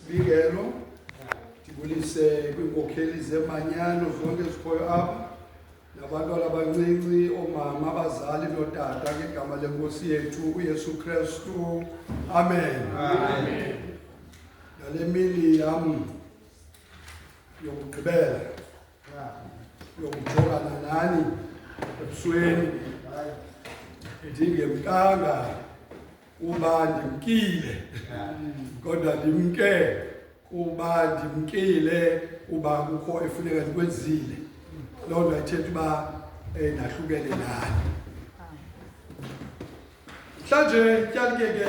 Sibikelo ndibulise kwiinkokheli zemanyano zonke ezikhoyo apha nabantwana abancinci oomama abazali nootata ngegama lenkosi yethu uyesu krestu amen nale mini yam yokugqibela yokujongana nani ebusweni ndingemkanga kuba ndimkile kodwa ndimke kuba ndimkile kuba kukho efuneka ndikwenzile loo nto ayithetha uba um nahlukele nani mhlanje tyalikeke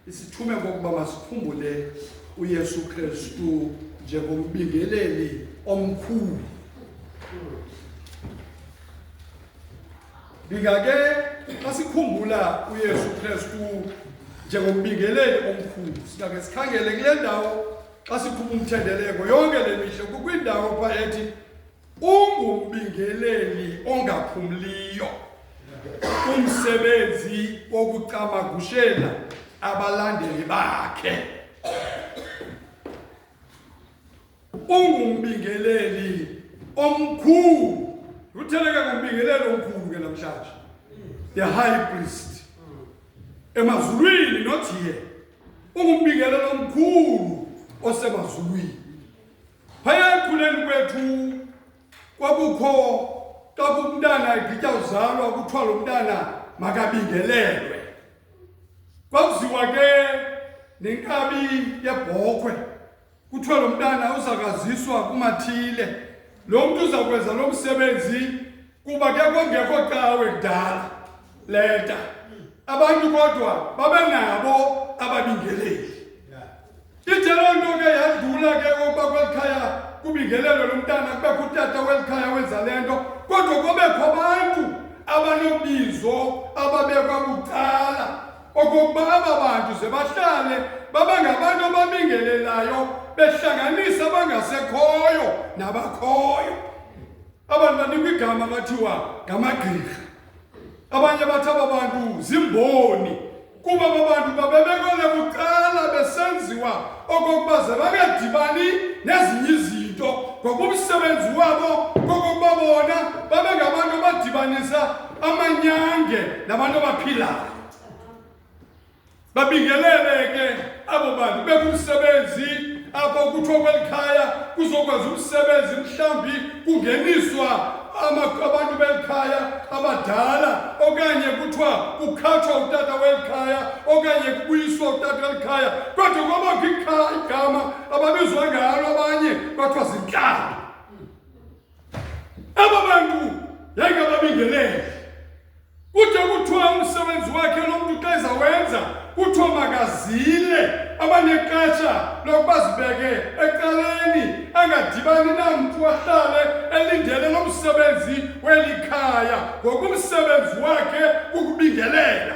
isithume kokuba masikhumbule uyesu kristu njengombingeleli omkhulu Ndingake asikhumbula uYesu Kristu njengombingeleli omkhulu singake sikhangele kule ndawo xa sikhupha umthendeleko yonke le mihla kukwindawo pha ethi ungumbingeleli ongaphumliyo umsebenzi wokucamagushela abalandeli bakhe ungumbingeleli omkhulu utheleke ngumbingeleli omkhulu ke namhlanje the high priest emazulwini not here ungumbingeleli omkhulu osemazulwini phaya ekhuleni kwethu kwakukho xa kumntana egitya uzalwa kuthiwa lo mntana makabingelelwe kwakuziwa ke nenkabi yebhokhwe kuthiwa lo mntana uzakaziswa kumathile lo mntu uzakwenza lo msebenzi kuba ke kongekho cawe kudala leta abantu kodwa babenabo ababingeleli ithe loo nto ke yadlula ke ukuba kweli khaya kubingelelo lo mntana kubekho utata weli khaya wenza le nto kodwa kubekho abantu abanobizo ababekwa bucala okokuba aba bantu ze bahlale babe ngabantu ababingelelayo behlanganisa abangasekhoyo nabakhoyo abantu banikwa igama bathiwa ngamagqirha abanye bathi aba bantu zimboni kuba aba bantu babebekwele kuqala besenziwa okokuba ze bangadibani nezinye izinto ngoba umsebenzi wabo kokokuba bona babe ngabantu abadibanisa amanyange nabantu abaphilayo babingelele ke abo bantu bekumsebenzi apho kuthiwa kweli khaya kuzokwazi umsebenzi mhlawumbi kungeniswa abantu beli khaya abadala okanye kuthiwa kukhatshwa utata weli khaya okanye kubuyiswa utata weli khaya kodwa kwabakho igama ababizwa ngalo abanye kwathiwa zintlalo Aba bantu yayike babingelele. Kude kuthiwa umsebenzi wakhe lo mntu xa ezawenza kuthiwa makazile abanexesha lokuba zibeke ecaleni angadibani namntu ahlale elindele lo msebenzi weli khaya ngokumsebenzi wakhe ukubingelela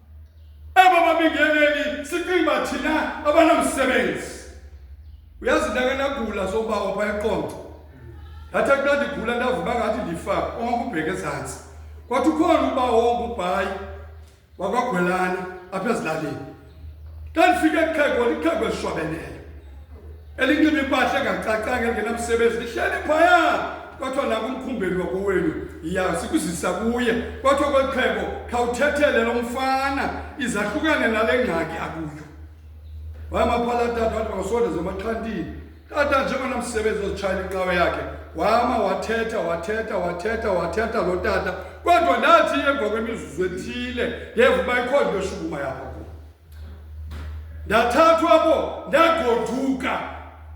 Aba babingeneli siqimba thina abanamsebenzi. Uyazi ndake ndagula sobawo pha eqonco. Thatha kuba ndigula ndavuka ngathi ndifa ongakubheke ezantsi. Kwathi ukhona uba wongubhayi wakwagwelana apha ezilalini. Xa ndifike ekheko likheko elishwabeneyo. elinxiba impahla engacacanga engenamsebenzi lihleli phaya kwathiwa nakumkhumbeli wakowenu ya sikuzisa kuye kwathiwa kweli xhego khawuthethele lo mfana izahlukane nale ngxaki akuyo wayamaphala tata wathi makasonde zemaxhantini tata njengona msebenzi ozitshayela inqawe yakhe wama wathetha wathetha wathetha wathetha lo tata kodwa ndathi emva kwemizuzu ethile ngeva uba ikhona into eshukuma yakho ndathathwa bo ndagoduka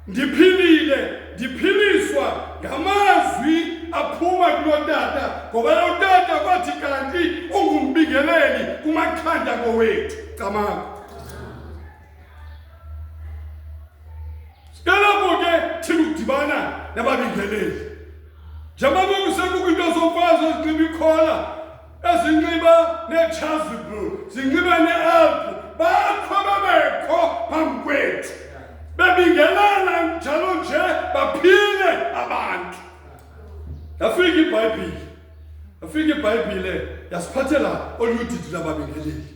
ndiphilile ndiphiliswa ngamazwi aphuma kulotata ngoba lotata kwathi kanti ungumbingeleli kumakhanda kowethu camanga sikalapho ke thina ukudibana nababingeleli njengoba kusekukho into zokwazi ezinxiba ikhola ezinxiba neechasuble zinxiba nealpu bakho babekho phambi kwethu bebingelana njalo nje baphile abantu yafika ibhayibhile yafika ibhayibhile yasiphathela oludidi lababingeleli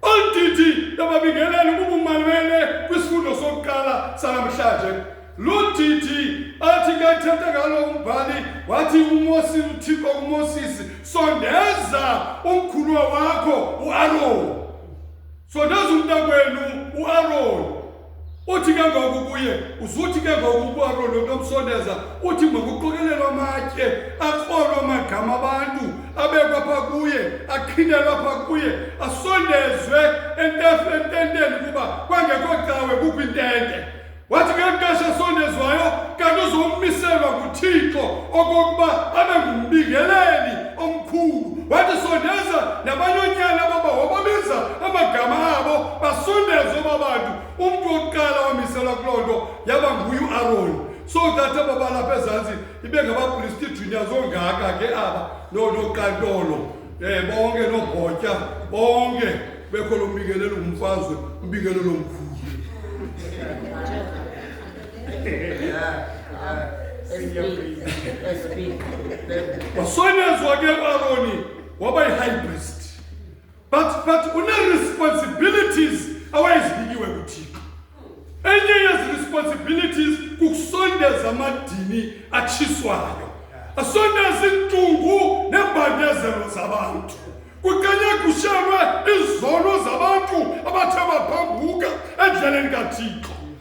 Olu didi lababingeleli kubumalele kwisifundo sokuqala sanamhlanje. Lo didi athi ke ethetha ngalo umbhali wathi uMosi uThixo kuMosisi sondeza umkhuluwa wakho uAron. Sondeza umntakwenu uAron. Uthi ke ngoku kuye uzuthi ke ngoku uAroni unomsondeza uthi makuqokelelwa amatye akrolwa amagama abantu abekwa pha kuye aqhinelwa pha kuye asondezwe ententeni kuba kwangekho cawe kukho intente wathi ke mntashi asondezwayo kanti uzomiselwa nguthixo okokuba abe ngumbingeleli omkhulu wathi sondeza nabanyonyana baba wababiza amagama abo basondeze oba bantu umntu wokuqala wamiselwa kuloo nto yaba nguye uaroni so that aba balapha ezantsi ibe ngabapristi junior zongaka ke aba noqantolo um eh, bonke noobhotya bonke bekho lo mbikelela ungumfazwe umbikelela omkhulu wasonyezwa ke uaroni waba yi-high priest but but une-responsibilities awayezibikiwe kuthixo enye yezi-responsibilities kukusondeza amadini atshiswayo asondeza iintungu neembandezelo zabantu kuqenye kushelwe izono zabantu abathe baphambuka endleleni kathixo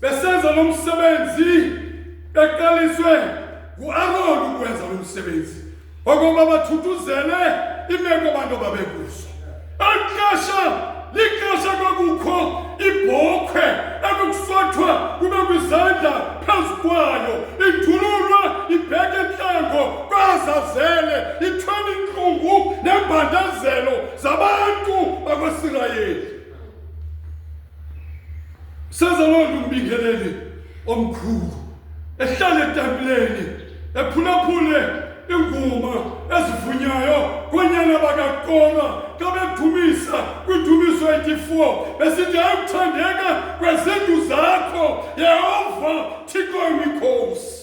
besenza lo msebenzi beqaliswe nguaroni ukwenza lo msebenzi okoba bathuthuzele imeko abantu ababekuzo exesha lixesha kwakukho ibhokhwe ekukuswathwa kube kwizandla phezu kwayo ithululwa ibheke entlango kwazazele ithwele intlungu nembandezelo zabantu bakwaisirayeli Seza loo nto umbingeleli omkhulu ehlala etempileni ephulaphule iinguma ezivunyayo koonyana bakakoma xa bedumisa kwidumiso 84 besithi ayikuthandeka kwezindlu zakho yehova thixo imikhosi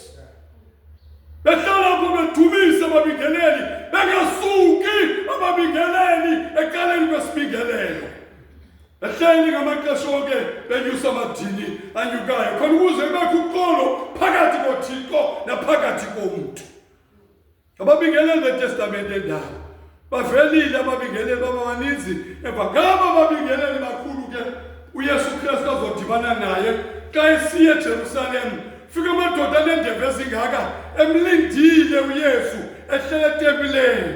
behlala pho bedumisa ababingeleli bengasuki ababingeleli ekaleni kwesibingelelo Ehleni ngamaxesha onke benyusa amadini anyukayo khona ukuze kubekho uxolo phakathi kothixo naphakathi komntu ababingeleli betestamente endala bavelile ababingeleli bababaninzi emva ngaba babingeleli bakhulu ke uyesu kristu azodibana naye xa esiye ejerusalem fika amadoda aneendebe ezingaka emlindile uyesu ehlele etempileni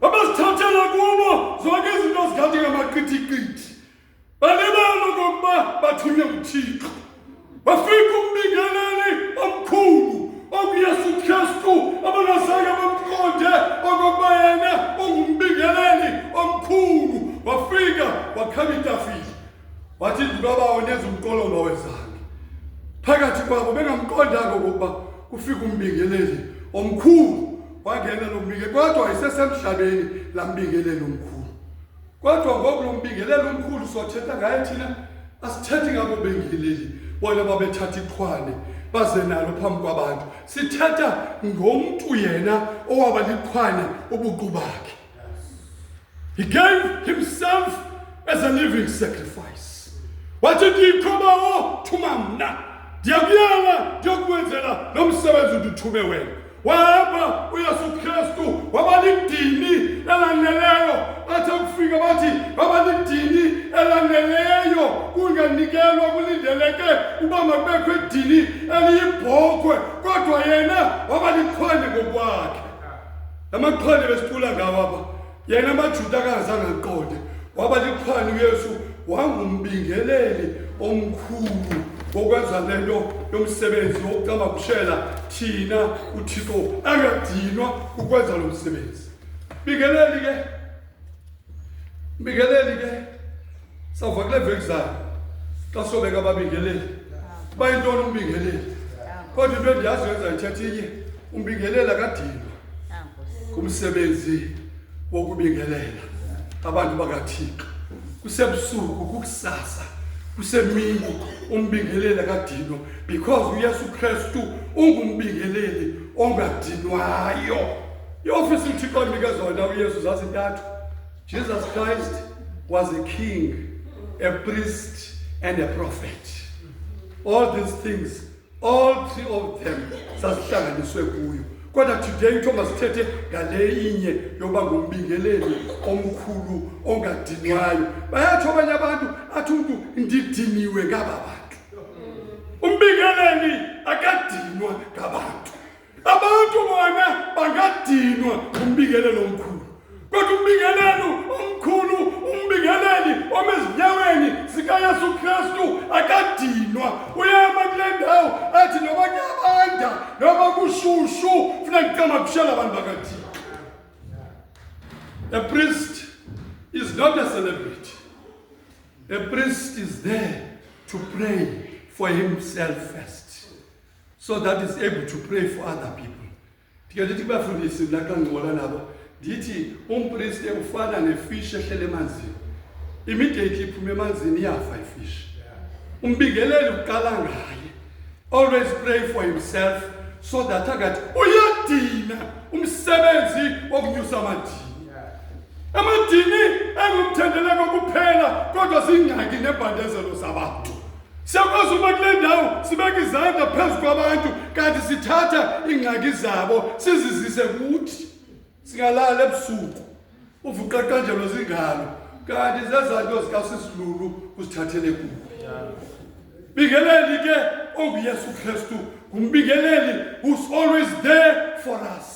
Babazithathela kubo zonke izinto zikhathi ngamaqithiqithi. Balibala okokuba bathunywe nguThixo. Bafika umbingeleli omkhulu okuyesu Kristu abangazange bamqonde okokuba yena ungumbingeleli omkhulu. Wafika wakhaba itafile. Wathi ndinobawo nenza umqolo ongawezange phakathi kwabo bengamqondanga okokuba kufika umbingeleli omkhulu wangena lo mbinge kodwa isesemhlabeni la mbingeleli omkhulu kodwa ngoku lo mbingeleli omkhulu sothetha ngaye thina asithethi ngabo bengeleli bona babethatha iqhwane baze nalo phambi kwabantu sithetha ngomntu yena owaba liqhwane ubuqu bakhe He gave himself as a living sacrifice. Wathi ndiyikhobawo thuma mna ndiyakuyala ndiyokwenzela lo msebenzi ndithume wena wahamba uyesu kristu waba lidini elaneleyo bathe kufika bathi baba lidini elaneleyo kunganikelwa kulindeleke uba makubekho idini eliyibhokhwe kodwa yena waba likhwele ngokwakhe La maqhwani besicula ngawo apha yena amajuda akangazange aqonde waba liqhwani uyesu wangumbingeleli omkhulu wokwenza le nto yomsebenzi wokucama kushela thina uthixo angadinwa ukwenza lo msebenzi bingeleli ke Mbingeleli ke sawuva kule veki zayo xa sobeka ababingeleli uba yintoni umbingeleli kodwa into endiyazi yenza ithetha inye umbingelela kadinwa ngumsebenzi wokubingelela abantu bakathixo kusebusuku kukusasa kusemini umbingelela kadinwa because uyesu kristu ungumbingeleli ongadinwayo iofisi uthixo andinike zona uyesu zazintathu jesus christ was a king a priest and a prophet all these things all three of them sazihlanganiswe kuyo kodwa today kuthiwa masithethe ngale inye yokuba ngumbingeleli omkhulu ongadinwayo bayatsho abanye abantu athi umntu ndidiniwe ngaba bantu umbingeleli akadinwa ngabantu abantu bona bangadinwa ngumbikelelo omkhulu kodwa umbikelelo omkhulu umbikeleli omezinyaweni zikayesu kristu akadinwa uyema kule ndawo athi noba kuyabanda noba kushushu funa kucama kushela abantu bakadinwa a priest is not a celebrity a priest is there to pray for himself first so that is able to pray for other people ndike ndithi kubafundisi mna xa ndincola nabo ndithi umpriste ufana nefishi ehlele emanzini immediately iphuma emanzini iyafa ifishi umbingeleli uqala ngaye always pray for himself so that akathi uyadina umsebenzi wokunyusa amadini amadini engumthendeleko kuphela kodwa zingxaki nebhandezelo zabantu Siyakwazi ukuba kule ndawo sibeke izandla phezu kwabantu kanti sithatha iingxaki zabo sizizise kuthi singalala ebusuku uvuqa qanjelo zingalo kanti zezanto zikaSisilulu usithathele kuwe bingeleli ke onguYesu Kristu ngumbingeleli who's always there for us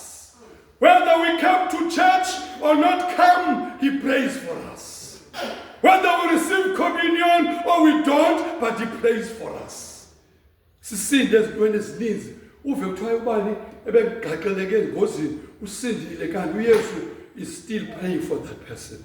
Whether we come to church or not come, he prays for us. Whether we receive communion or we don't, but he prays for us. Sisinde ezintweni ezininzi uve kuthiwa ubani ebegaqeleke engozini usindile kanti uyesu is still praying for that person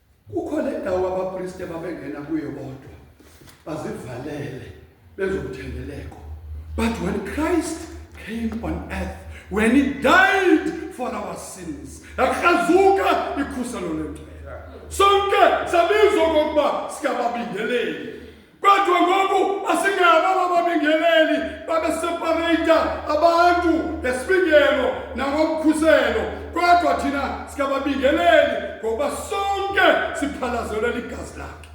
kukho le ndawo abapriste babengena kuyo bodwa bazivalele bezomthendeleko but when christ came on earth when he died for our sins yakrazuka ikhuselo lento sonke sabizwa kokuba sikababingeleli Kodwa ngoku asingabo bababingeleli babesepareyita abantu ngesibingelo nangokukhuselo, kodwa thina sikababingeleli ngokuba sonke siphalazelwe ligazi lakhe,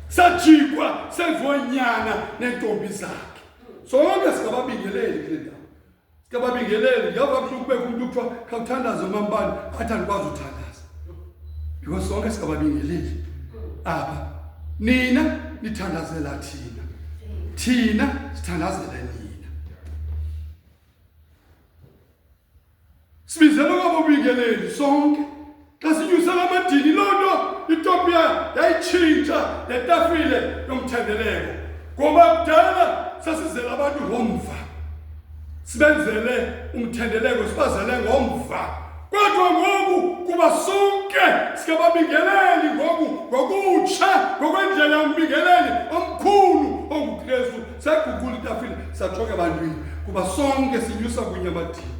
sajikwa senziwa nyana neentombi zakhe. Sonke sikababingeleli kule ndawo. Sikababingeleli, yava kuthi kubekho umntu kuthiwa khawuthandaze umambani athi andikwazi uthandaza. Because sonke sikababingeleli apha. Nina nithandazela thina. Thina sithandazela nina. Sibizelwe ngabobingeleli sonke. Xa sinyusela amadini loo nto iTopiya yayitshintsha netafile yomthendeleko. Ngoba kudala sasizela abantu ngomva. Sibenzele umthendeleko sibazele ngomva. Kodwa ngoku kuba sonke sikababingeleli ngoku ngokutsha ngokwendlela yombingeleli omkhulu onguKristu saguqula itafile sajonga ebantwini kuba sonke sinyusa kunye abathile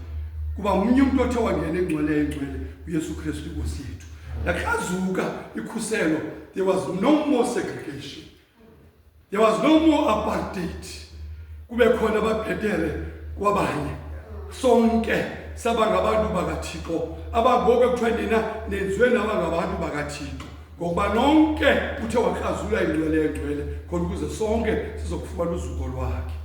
kuba mnye umntu othe wangena engcwele engcwele uyesu kristu inkosi yethu lakrazuka ikhuselo there was no more segregation there was no more apartheid kube khona ababhetele kwabanye sonke saba ngabantu bakathixo abangoku ekuthiwa nina nenziwe naba ngabantu bakathixo ngokuba nonke uthe wakrazula ingcwele yengcwele khona ukuze sonke sizokufumana uzuko lwakhe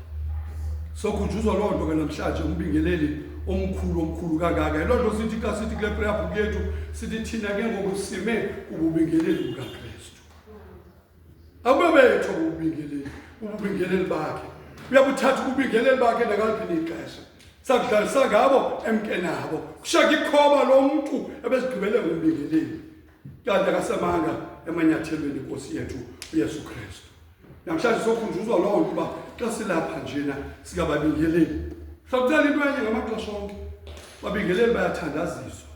sokhunjuzwa loo nto ke namhlanje umbingeleli omkhulu omkhulu kangaka yiloo nto sithi xa sithi kule prayer book yethu sithi thina ke ngoku sime kububingeleli bukakristu akube betho kububingeleli ububingeleli bakhe uyabuthatha ububingeleli bakhe nakaliphi nixesha sakudlalisa ngabo emke nabo kushaka ikhoba lo mntu ebesigqibele ngumbingeleli Kanti akasemanga emanyathelweni inkosi yethu uyesu kristu namhlanje sokhunjuzwa loo nto uba xa silapha njena sikababingeleli sakucela into enye ngamaxesha onke babingeleli bayathandaziswa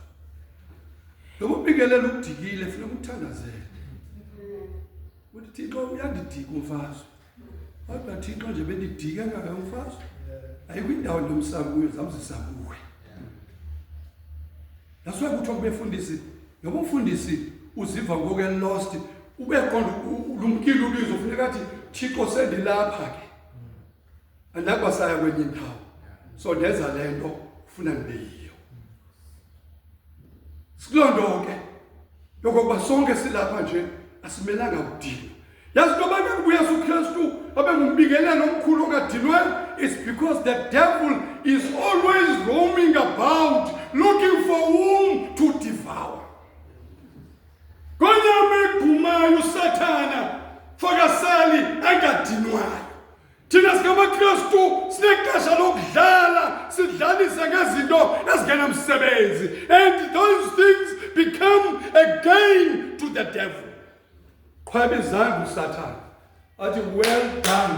noba ubingelela ukudikile funeka umthandazele uthi thixo uyandidika umfazwe Kodwa Thixo nje bendidike ngayo mfazi. Ayikho indawo lomsabuyo zamzisa kuwe. That's why kuthiwa kubefundisi noba umfundisi uziva ngoku elost ubeqonda lumkile ubizo funeka athi Thixo sendilapha ke. andakwasaya kwenye indawo so ndenza le nto ufuna ndibe yiyo sikuloo nto ke yokokuba sonke silapha nje asimelanga kudinwa yazi into abantu abuya sukristu abe ngumbingelelo omkhulu ongadinwayo is because the devil is always roaming about looking for whom to devour konyama egumayo usathana fakasali angadinwayo thina singamakristu sinexesha lokudlala sidlalise ngezinto ezingenamsebenzi and those things become a gain to the devil qhweba izandla usathana athi well done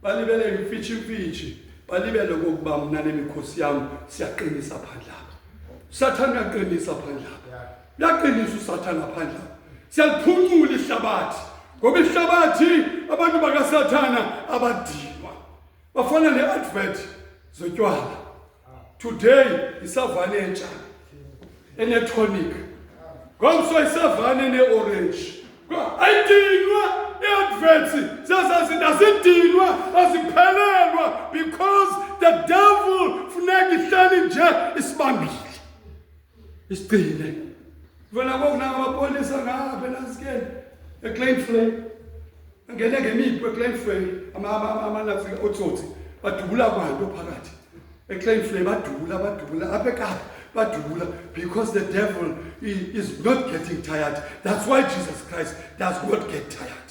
balibele imfitshimfitshi balibele kokuba mna nemikhosi yam siyaqinisa phandlapha usathana uyaqinisa phandlapha Laqinisa uSathane ngaphandle. Siyaliphuncula ihlabathi. Ngoba ihlabathi abantu bakaSathana abadilwa. Bafana neadvert zotywala. Today isavane entsha enetonic. Ngomso isavane neorange. Ayidinwa iadverts zazazinda zidinwa aziphelelwa because the devil funeka ihleli nje isibambile. isigcine vela ngoku nangamapolisa ngapha elasikeni eclainfrey angene ngemipu eclainfrey amanazi otsotsi badubula kwanto phakathi eclainfrey badubula badubula apha ekapa badubula because the devil is not getting tired that's why jesus christ does not get tired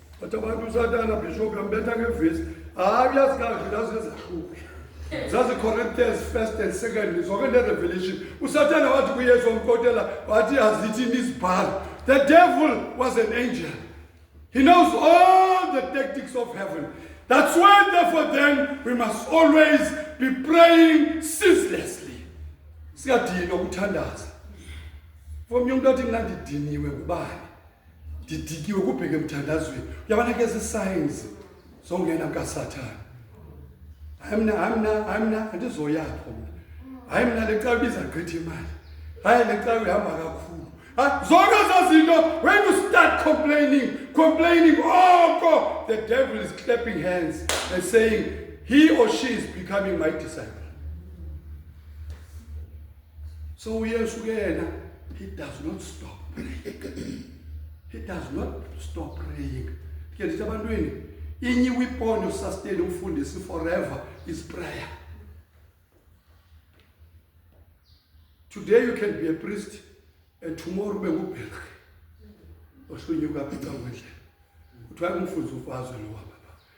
Otobantu uSathana bishop yambetha ngevesi. Hayi uyazikahle lazi ezahluke. Zazi Corinthians first and second zonke le revelation. USathana wathi kuYesu wamkotela wathi azithi nisibhalo. The devil was an angel. He knows all the tactics of heaven. That's why therefore then we must always be praying ceaselessly. Siyadinwa ukuthandaza. Fomnye umuntu athi mina ndidiniwe kubani? ndidikiwe kubheke emthandazweni uyabona ke zi-signs zongena kukasathane hayi mna hayi mna hayi mna andizoyapho mna hayi mna le cawe ibiza gqitha imali hayi le cawe ihamba kakhulu zonke ezaa zinto when you start complaining complaining oko oh, the devil is clapping hands and saying he or she is becoming my disciple so uyesu ke yena he does not stop praying he does not stop praying ke ndithi abantwini inye weapon yosustain umfundisi forever is prayer today you can be a priest and tomorrow ube ngubherhi oshunyuka apha ecangwendlela kuthiwa kumfundisi ufazwe lowa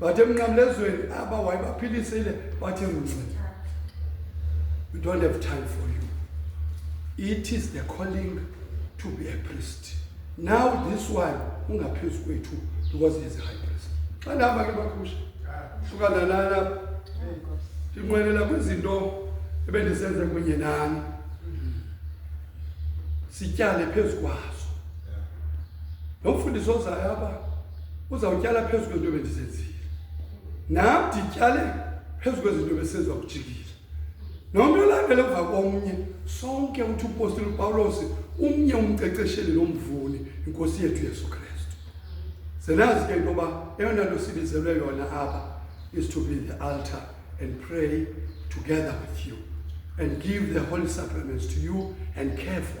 bathi emnqamlezweni aba wayebaphilisile bathi mncini we don't have time for you it is the calling to be a priest now this one ungaphezu kwethu because he is a high priest xa ndihamba ke bakhusha hlukana nana ndinqwenela kwizinto ebendisenze kunye nani sityale phezu kwazo nomfundisi ozayo apha uzawutyala phezu kwento bendizenzile nam ndityale phezu kwezinto besenziwa kujikile nomntu olandele emva komnye sonke uthi upostile upawulos umnye umqeqesheli lomvuni inkosi yethu yesu kristu zenazi ke into yoba eyona nto sibizelwe yona apha is to be the altar and pray together with you and give the holy supplements to you and care for